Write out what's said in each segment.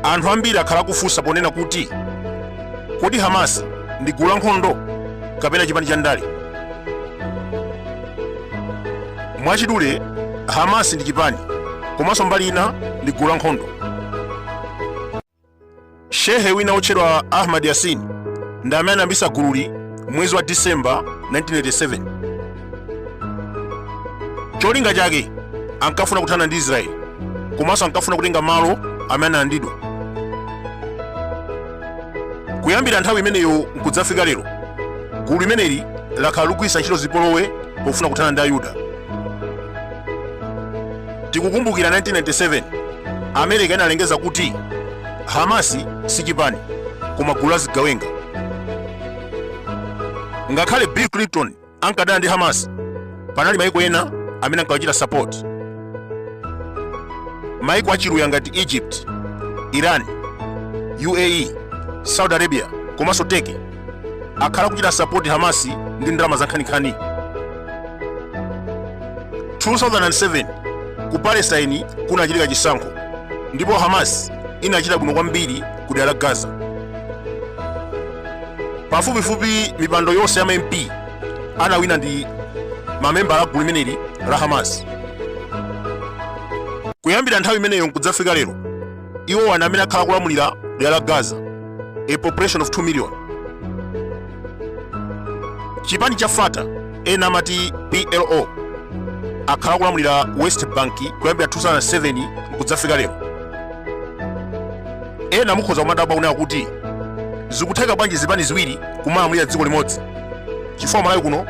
anthu ambiri akhala akufunsa ponena kuti kodi hamas ndi gulu lankhondo kapena chipani cha ndale mwachidule hamas ndi chipani komanso mbali ina ndi gulu lankhondo shehe wina wotchedwa ahmad yasin ndi amene anayambitsa gululi mwezi wa disemba 1987 cholinga chake ankafuna kuthana ndi israeli komanso ankafuna kutenga malo amene analandidwa kuyambira nthawi imeneyo nkudzafika lero gulu limeneli lakhala likugwiritsa ntchito zipolowe pofuna kuthana ndi ayuda Tikukumbukira 1997 America inalengeza kuti Hamasi si chipani koma gulu la zigawenga. Ngakhale Bill Clinton ankadana ndi Hamas, panali maiko ena amene ankawachita support. Maiko achiluya ngati Egypt, Iran, UAE, Saudi Arabia komanso Turkey akhala akuchita sapoti hamasi ndi ndalama zankhaninkhani 2007 ku palestine kunachitika chisankho ndipo hamas inachita bwino kwambiri ku dera la gaza pafupifupi mipando yonse ya mamp anawina ndi mamembala a gulu limeneli la hamas kuyambira nthawi imeneyo nkudzafika lero iwowa ndi amene akhala akulamulira dera la gaza a population of 2 million chipani cha fata ena amati plo akhala akulamulira west bank kuyambira 2007 nkudzafika lero ena mukhoza kumadabwa kunena kuti zikutheka bwanji zipani ziwiri kumalamulira dziko limodzi chifukwa malawi kuno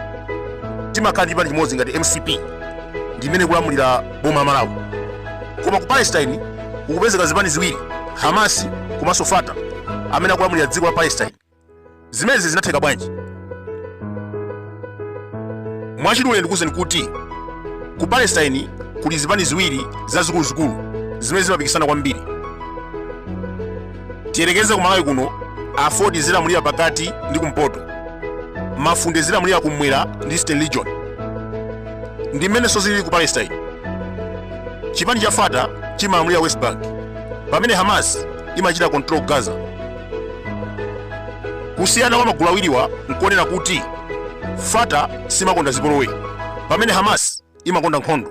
timakhala ndi chipani chimodzi ngati mcp ndi imene ikulamulira boma la Malawi. Koma ku Palestine kukupezeka zipani ziwiri, Hamas komanso Fatah amene akulamulira dziko la Palestine. Zimenezi zinatheka bwanji? Mwachidule ndikuwuzeni kuti ku Palestine kuli zipani ziwiri zazikuluzikulu zimene zimapikisana kwambiri. tiyerekeze ku malawi kuno aford izilamulira pakati ndi kumpoto mafunde izilamulira kumwera ndi eastern region ndi mmenenso zilili ku palestine chipani cha fata chimalamulira west bank pamene hamas imachita control gaza kusiyana kwa magulu awiriwa nkonena kuti fata siimakonda zipolowe pamene hamas imakonda nkhondo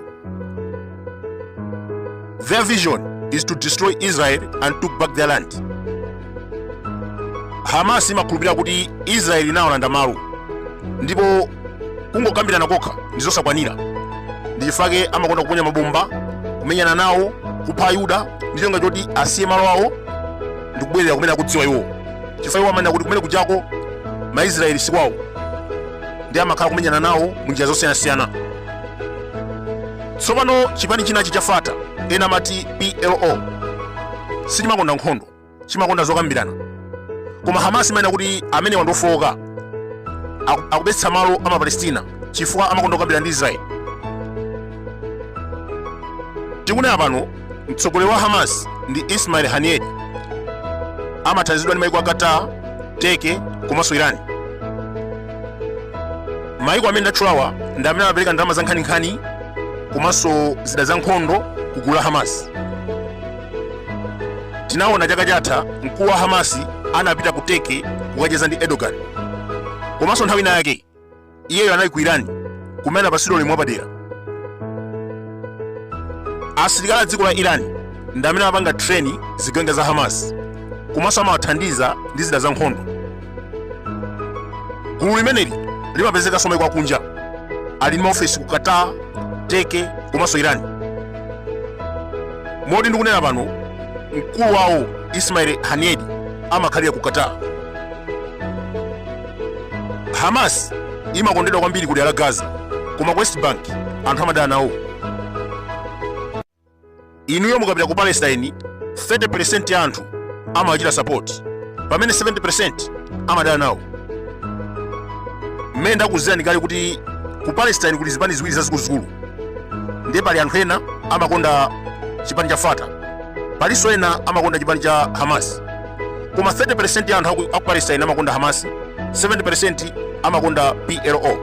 their vision is to destroy israel and take back their land hamas imakhulupirira kuti israel inawalanda malo ndipo kungokambirana kokha ndi zosakwanira ndi chifukwa chake amakonda kuponya mabomba kumenyana nawo kupha ayuda ndi cholinga choti asiye malo awo ndi kubwerera kumene akudziwa iwo chifukwa iwo amanena kuti kumene kujako maisraeli sikwawo ndiye amakhala kumenyana nawo mu njira zosiyanasiyana tsopano chipani chinachi cha fata ena amati plo sichimakonda nkhondo chimakonda zokambirana koma hamas imanena kuti amenewa ndi ofowoka akubetsetsa malo a mapalestina chifukwa amakonda kukambirana ndi israeli tikunena pano mtsogoleri wa hamas ndi ismail haniyeh amathandizidwa ndi maiko a qatar turkey komanso iran maiko amene ndatchulawa ndi amene amapereka ndalama za nkhaninkhani komanso zida za nkhondo ku gulu la hamas tinaona chaka chatha mkulu wa hamasi anapita ku turkey kukacheza ndi erdogan komanso nthawi ina yake iyeyo anali ku iran kumene anapatsidwa ulemu wapadera asilikali a dziko la iran ndi amene amapanga treni zigawenga za hamas komanso amawathandiza ndi zida za nkhondo gulu limeneli limapezekanso maiko akunja ali ndi maofesi ku qatar turkey komanso iran moti ndikunena pano mkulu wawo ismail haniyeh amakhalira ku qatar hamas imakondedwa kwambiri kudera la gaza koma ku west bank anthu amadana nawo inuyo mukapita ku palestine 30% ya anthu amawachita support pamene 70% amadana nawo mmene ndakuuzirani kale kuti ku palestine kuli zipani ziwiri zazikuluzikulu ndiye pali anthu ena amakonda chipani cha fata palinso ena amakonda chipani cha hamas koma 30% ya anthu aku palestine amakonda hamas 70% amakonda plo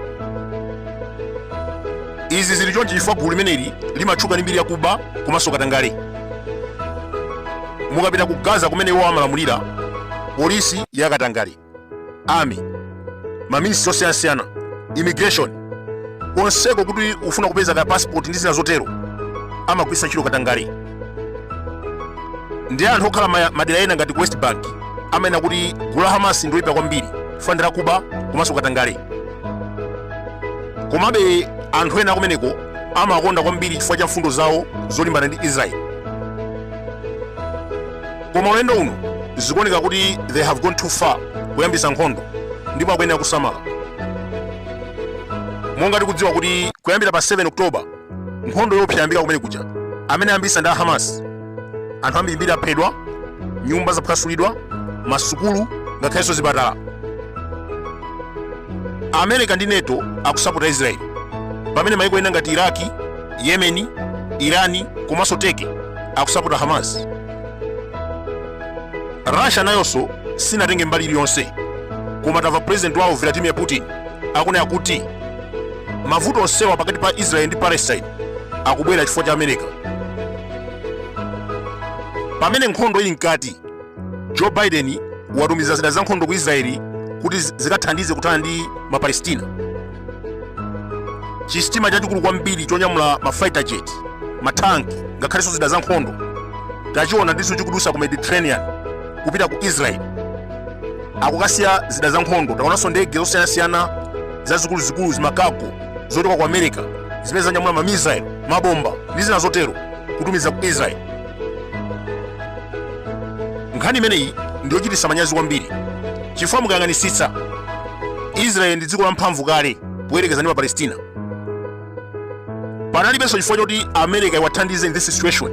izi zili chonchi chifukwa gulu limeneli limatchuka ndi mbiri yakuba komanso katangale mukapita ku gaza kumene iwo amalamulira polisi yakatangale army maministry osiyanasiyana immigration konseko kuti ukafuna kupeza ka passport ndi zina zotero amagwiritsa ntchito katangale ndiye anthu okhala madera ena ngati ku west bank amanena kuti gulu la hamas ndiloyipa kwambiri chifukwa ndi lakuba komanso katangale komabe anthu ena akumeneko amakonda kwambiri chifukwa cha mfundo zawo zolimbana ndi israeli koma ulendo uno zikuoneka kuti they have gone too far kuyambisa nkhondo ndipo akuyenera kusamala monga tikudziwa kuti kuyambira pa 7 oktoba nkhondo yoopsa yayambika kumene kuja amene ayambisa ndi a hamas anthu ambirimbiri aphedwa nyumba zaphwasulidwa masukulu ngakhalenso zipatala america ndi neto akusapota israeli pamene maiko ena ngati iraki yemeni irani komanso turkey akusapota hamas russia nayonso sinatenge mbali iliyonse koma tamva president wawo vladimir putin akunena kuti mavuto onsewa pakati pa israel ndi palestine akubwera chifukwa cha america pamene nkhondo ili mkati joe biden watumiza zida za nkhondo ku israeli kuti zikathandize kuthana ndi mapalestina chisitima chachikulu kwambiri chonyamula ma fighter jet matanki ngakhalenso zida za nkhondo tachionanso chikudusa ku mediterranean kupita ku israel kukasiya zida za nkhondo taonanso ndege zosiyanasiyana zazikuluzikulu zimakago zochoka ku america zimene zanyamula mamisail mabomba ndi zina zotero kutumiza ku israel nkhani imeneyi ndi yochititsa manyazi kwambiri chifukwa mukayang'anitsitsa israeli ndi dziko lamphamvu kale poyerekeza ndi palestina panalibenso chifukwa choti america iwathandize in this situation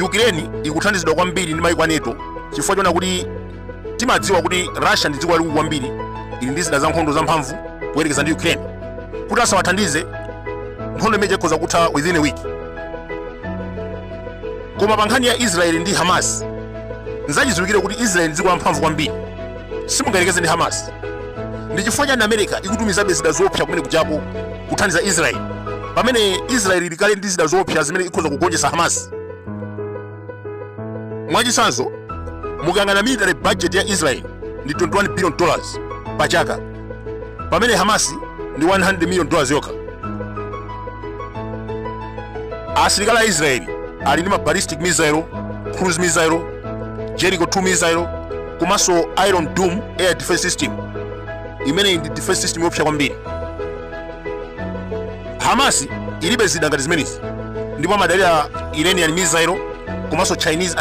ukraine ikuthandizidwa kwambiri ndi maiko a nato chifukwa chona kuti timadziwa kuti russia ndi dziko lalikulu kwambiri ili ndi zida zankhondo zamphamvu kuyerekeza ndi ukraine kuti asawathandize nkhondo imene ija ikhoza kutha within a week koma pa nkhani ya israeli ndi hamas nzachidziwikire kuti israeli ndi dziko lamphamvu kwambiri simungayerekeze ndi hamas ndi chifukwa chani america ikutumizabe zida zoopsa kumene kujako kuthandiza israeli pamene israeli ili kale ndi zida zoopsa zimene ikhoza kugonjetsa hamas Mwachitsanzo, mukayang'ana military budget ya Israel ndi 21 billion pa chaka, pamene Hamas ndi 100 million yokha. Asilikali a Israel ali ndi ma ballistic missile, cruise missile, Jericho 2 missile komanso Iron Dome air defense system imene ndi defense system yoopsa kwambiri. Hamas ilibe zida ngati zimenezi ndipo amadalira Iranian missile komanso Chinese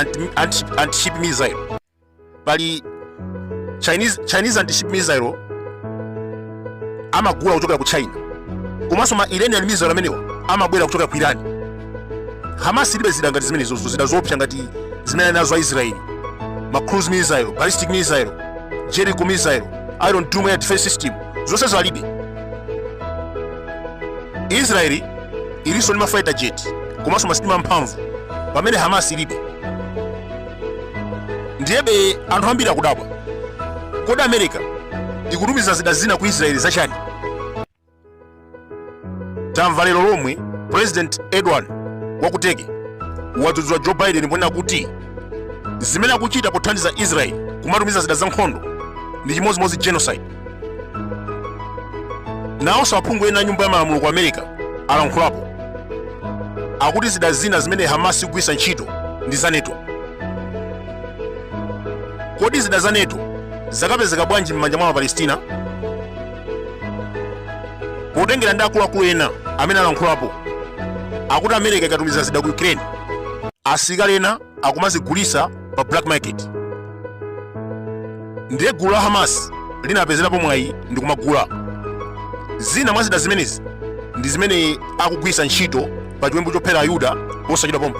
anti-ship missile. Pali Chinese anti-ship missile amagula kuchokera ku China komanso ma Iranian missile amenewa amabwera kuchokera ku Iran. Hamas ilibe zida ngati zimenezo, zida zoopsa ngati zimene ali nazo a Israeli, ma cruise missile, ballistic missile, Jericho missile, Iron Dome air defense system, zonsezi alibe. israeli ilinso ndi mafighter jet komanso masitima amphamvu pamene hamas ilibe ndiyebe anthu ambiri akudabwa kodi america ikutumiza zida zina ku israeli zachani tamva lero lomwe president erdogan wa ku turkey wadzudzula joe biden ponena kuti zimene akuchita pothandiza israeli kumatumiza zida zankhondo ndi chimodzimodzi genocide nawonso aphungu ena nyumba ya malamulo ku america alankhulapo akuti zida zina zimene hamas ikugwiritsa ntchito ndi za nato kodi zida za nato zakapezeka bwanji m'manja mwa apalestina potengera ndi akuluakulu ena amene alankhulapo akuti america ikatumiza zida ku ukraine asilikali ena akumazigulisa pa black market ndiye gulu la hamas linapezerapo mwayi ndi kumagula zina mwa zida zimenezi ndi zimene akugwiritsa ntchito pa chiwembu chophera ayuda posachedwa pompa